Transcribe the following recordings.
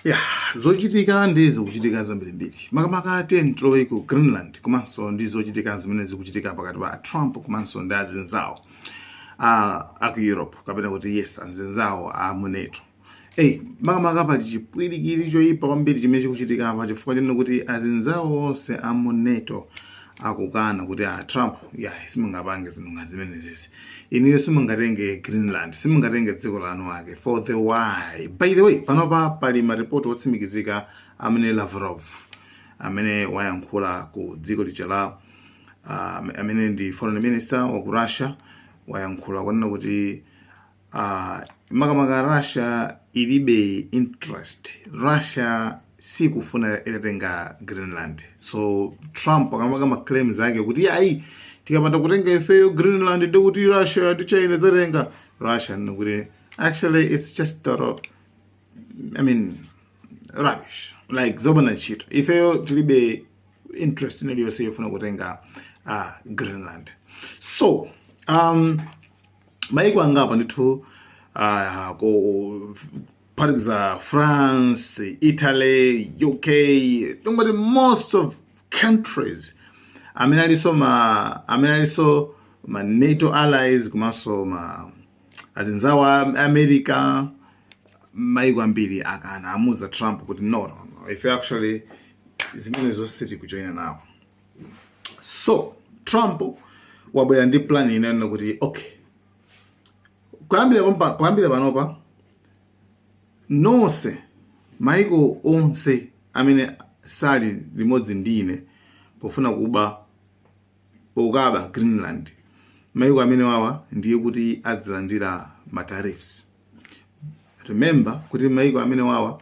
Yeah zochitika ndi zikuchitika zambirimbiri makamaka ten tilowe ku greenland komanso ndi zochitika zimene zikuchitika pakati pa trump komanso ndi azinzawo a a ku europe kapena kuti yes azinzawo a mu NATO Hey, makamaka pali chipwirikiti choyipa kwambiri chimene chikuchitika apa chifukwa chonena kuti azinzawo onse a mu NATO akukana kuti a trump yayi simungapange zinthu ngati zimenezezi inuyo simungatenge greenland simungatenge dziko la eni ake for the why by the way panopa pali maripoti otsimikizika amene lavrov amene wayankhula ku dziko lija la uh, amene ndi foreign minister wa ku russia wayankhula kwanena kuti uh, makamaka russia ilibe interest russia sikufuna itatenga greenland so trump akamapanga ma claims ake kuti yayi tikapanda kutenga ifeyo greenland ndiye kuti russia ndi china zitenga russia ikuti actually it's just total i mean rubbish like zopanda ntchito ifeyo tilibe interest inaliyonse yofuna kutenga uh, greenland so um, maiko angapo ndithu uh, kuphatikiza france italy uk tingoti most of countries amene alinso ma amene alinso ma nato allies komanso ma azinzawo a america maiko ambiri akana amuuza trump kuti no, no, no. ife actually zimenezo sitikujoyina nawo so trump wabwera ndi plan wanena kuti okay kuyambira pompa- kuyambira panopa nonse maiko onse amene sali limodzi ndi ine pofuna kuba pokaba greenland maiko amenewawa ndiye kuti azilandira ma tariffs remember kuti maiko amenewawa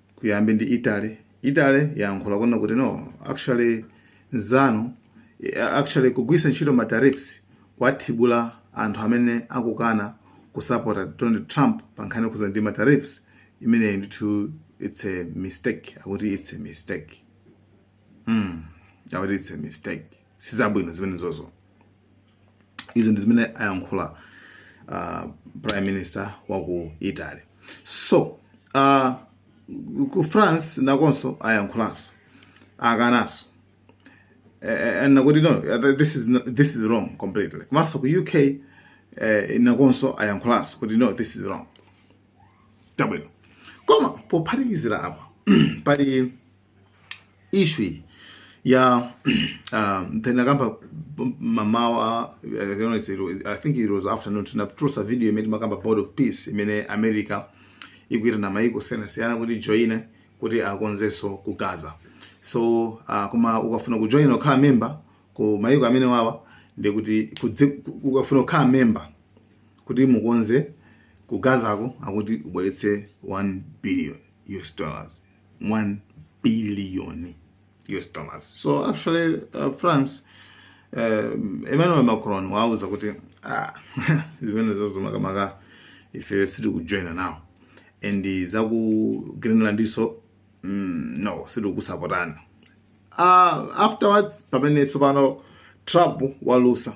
kuyamba ndi Italy Italy yayankhula kunena kuti no actually mzanu eh, actually kugwiritsa ntchito ma tariffs kuwathibula anthu amene akukana kusapota Donald Trump pa nkhani yokhudza ndi ma tariffs imeneyi ndithu it's a mistake akuti it's a mistake mm. akuti it's a mistake sizabwino zimenezozo izo ndi zimene ayankhula uh, prime minister wa ku italy so uh, ku france nakonso ayankhulanso akananso uh, akuti no uh, this is, not, this is wrong completely komanso ku uk uh, nakonso ayankhulanso kuti no this is wrong chabwino koma pophatikizira apa pali issue ya uh, timakamba mamawa uh, i think it was afternoon tinatulutsa video imene timakamba board of peace imene america ikuita na maiko osiyanasiyana kuti ajoine kuti akonzenso ku gaza so uh, koma ukafuna kujoina ukhale memba ku maiko amene wawa ndi kuti kudzi- ku- ukafuna kukhala memba kuti mukonze kugazako akuti ubweretse 1 billion us dollars 1 billion US dollars. So actually uh, France um, Emmanuel Macron wauza kuti ah, zimenezozo makamaka ife sitikujoina nawo and za ku Greenlandnso mm, no sitikusapotani uh, afterwards pamene tsopano Trump walusa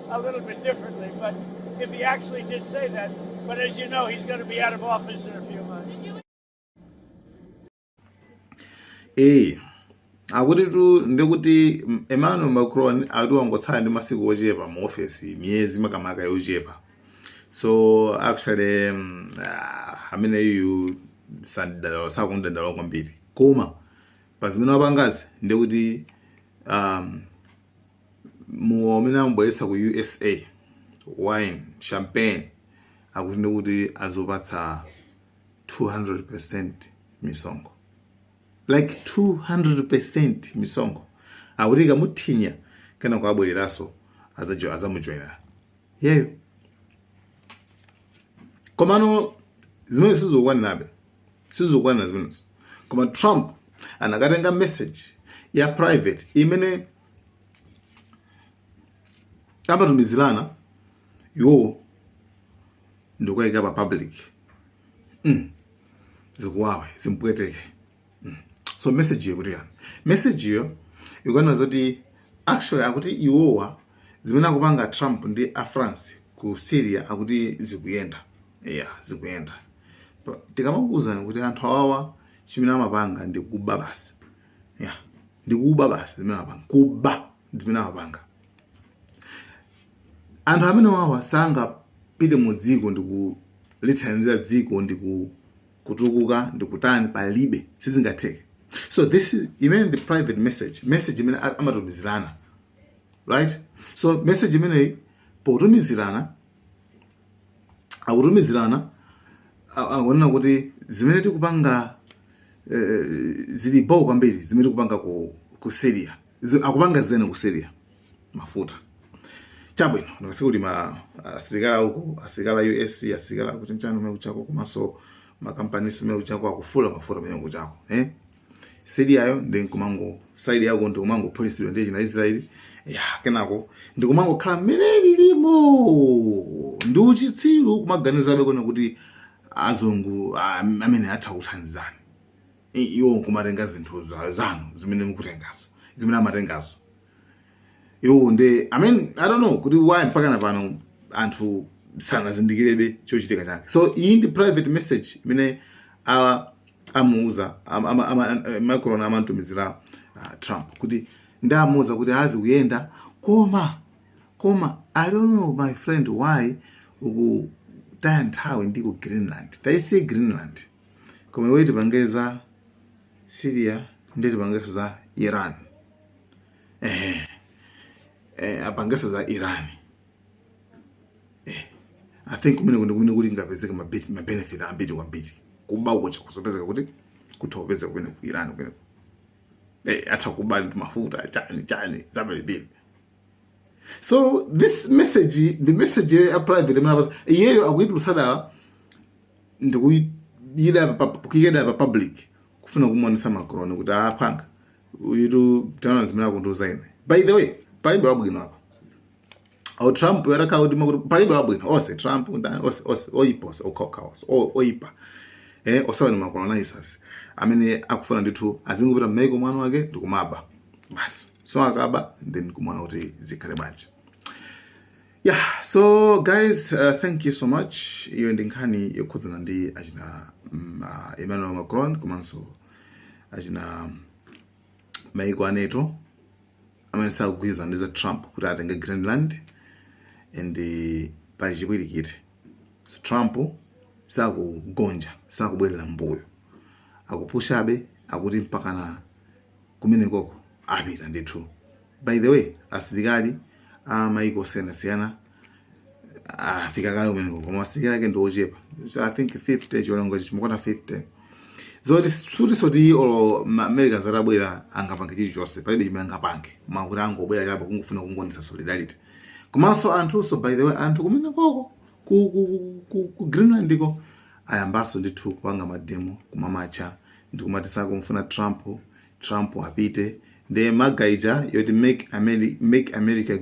a little bit differently, but if he actually did say that, but as you know, he's going to be out of office in a few months. Hey. akutitu ndikuti emmanuel macron akuti wangotsala ndi masiku ochepa mu ofesi miyezi makamaka yochepa so actually um, uh, ameneyu sakumudandaula kwambiri koma pazimene wapangazi ndikuti um, mowa umene amubweretsa ku usa wine champagne akuti ndikuti azaupatsa 200 percent misonkho like 200 percent misonkho akuti ikamuthinya kenako abwereranso azamujoina iyeyo komano zimene sizikukwanirabe sizikukwanira zimenezo koma trump anakatenga message ya private imene amatumizirana iwowo ndikukaiyika pa public mm. zikuwawe zimpweteke mm. so message yo ikuti chani message yo ikunena zoti actually akuti iwowa zimene akupanga trump ndi a france ku syria akuti zikuyenda ya zikuyenda tikamakuuzani kuti anthu awawa chimene amapanga ndi kuba basi ya ndikuba basi zimene amapanga kuba zimene amapanga anthu amene wawa sangapite mu dziko ndikulithandiza dziko ndiku kutukuka ndikutani palibe sizingatheke so this is imeneyi ndi private message message imene a- amatumizirana right so message imeneyi potumizirana akutumizirana akunena kuti zimene tikupanga eh, zili bo kwambiri zimene tikupanga ku, ku Syria akupanga zimene ku Syria mafuta chabwino ndikasiku kuti ma asilikali akuko asilikali a US asilikali akuti nchani amene kujako komanso makampani amene kujako akufula mafuta amene kujako eh Syria yo ndi nkumango side yako ndi kumangophulitsidwa ndi achina Israel ya kenako ndi kumangokhala mmene lilimo ndi uchitsiru kumaganizabe kunena kuti azungu ah, amene atha kuthandizani I- iwo nkumatenga zinthu za- zanu zimene mukutengazo zimene amatengazo iwo ndiye i mean i don't know kuti why mpaka na pano anthu sanazindikirebe chochitika chake so iyi ndi private message imene awa amuuza am- ama- ama- eh, macron amamtumizira ah, trump kuti ndi kumuuza kuti a zikuyenda koma koma i don't know my friend why ukutaya nthawi ndi ku greenland taisiye greenland koma iwe tipange za syria ndi tipange za iran eh, eh, apangeso za iran eh, i think kumeneko ndi kumene kungapezeke mabenefit ambiri kwambiri kuba uko cha kuzapezeka kuti kutha kupezeka kumene ku iran kumene eh, atha kuba ndi mafuta chani chani za bwelebwele so this message ndi message ya private imene apasa iyeyo akuyitulutsa dala ndikuyika kuyikira dala pa public kufuna kumuonetsa macron kuti apanga uyitu taonani zimene akundiuza ine by the way palibe wabwino apa olo trump atakhala kuti mwakuti palibe wabwino onse trump ndani onse onse oyipa onse okhaokha onse oyipa eh onsewa ndi macolonizers amene akufuna ndithu azingopita mmaiko mwa eni ake ndikumaba basi so akaba then kumana kuti zikhale bwanji Yeah, so guys, uh, thank you so much. Iyo ndi nkhani yokhudzana ndi achina mm, uh, Emmanuel Macron komanso achina maiko a NATO amene sakugwirizana ndi za Trump kuti atenge Greenland and uh, pali chipwirikiti. So, Trump sakugonja, sakubwerera mbuyo. Akupushabe akuti mpakana kumenekoko apita ndithu by the way asilikali a maiko osiyanasiyana afika kale kumeneko koma asilikali ake ndi ochepa so i think 50 chiwonongo chimakwana 50 zoti sikutinso kuti olo ma- america atabwera angapange chilichonse palibe chimene angapange mwakuti angobwera chabe kungofuna kungoonetsa solidarity komanso anthunso by the way anthu kumenekoko ku, ku, ku, ku, ku greenland ko ayambanso ndithu kupanga mademo kumamatcha ndikumati sakumfuna trump trump apite nde maga ija yoti make america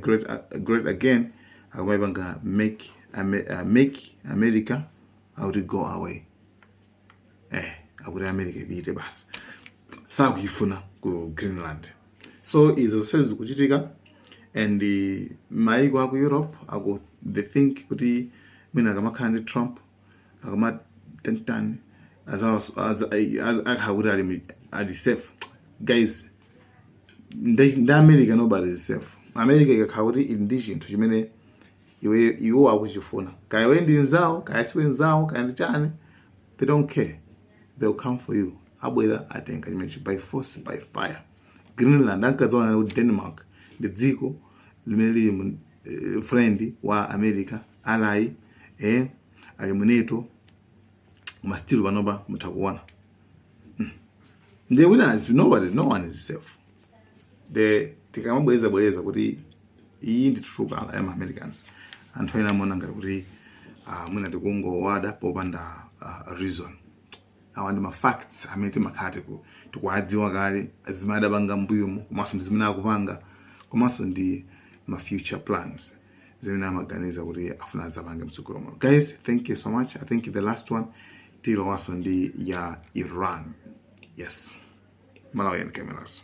great again akumaipanga make america akuti go away eh akuti america ipite basi sakuyifuna ku greenland so izo zonse zikuchitika and maiko aku europe they think kuti mwina akamakhala ndi trump akamatani tani akhala kuti ali safe guys ndi america nobody is safe america ikakhala kuti ili ndi chinthu chimene iwo akuchifuna kaya iwe ndi nzawo kaya siwe nzawo kaya ndi chani they don't care they'll come for you abwera atenga chimenechi by force by fire greenland ankadziwana kuti denmark ndi dziko limene lili friend wa america ally eh ali mu nato ma still panopa mutha kuona the winner is nobody no one is safe nde tikamabwereza bwereza kuti iyi ndi trukala ya Americans anthu ena amaona ngati kuti mwina tikungowada popanda uh, reason awa ndi ma facts amene timakhala tiku- tikuwadziwa kale zimene adapanga mbuyomu komanso ndi zimene akupanga komanso ndi ma future plans zimene amaganiza kuti akufuna adzapange mtsogolo muno guys thank you so much i think the last one tilowanso ndi ya iran yes malawian cameras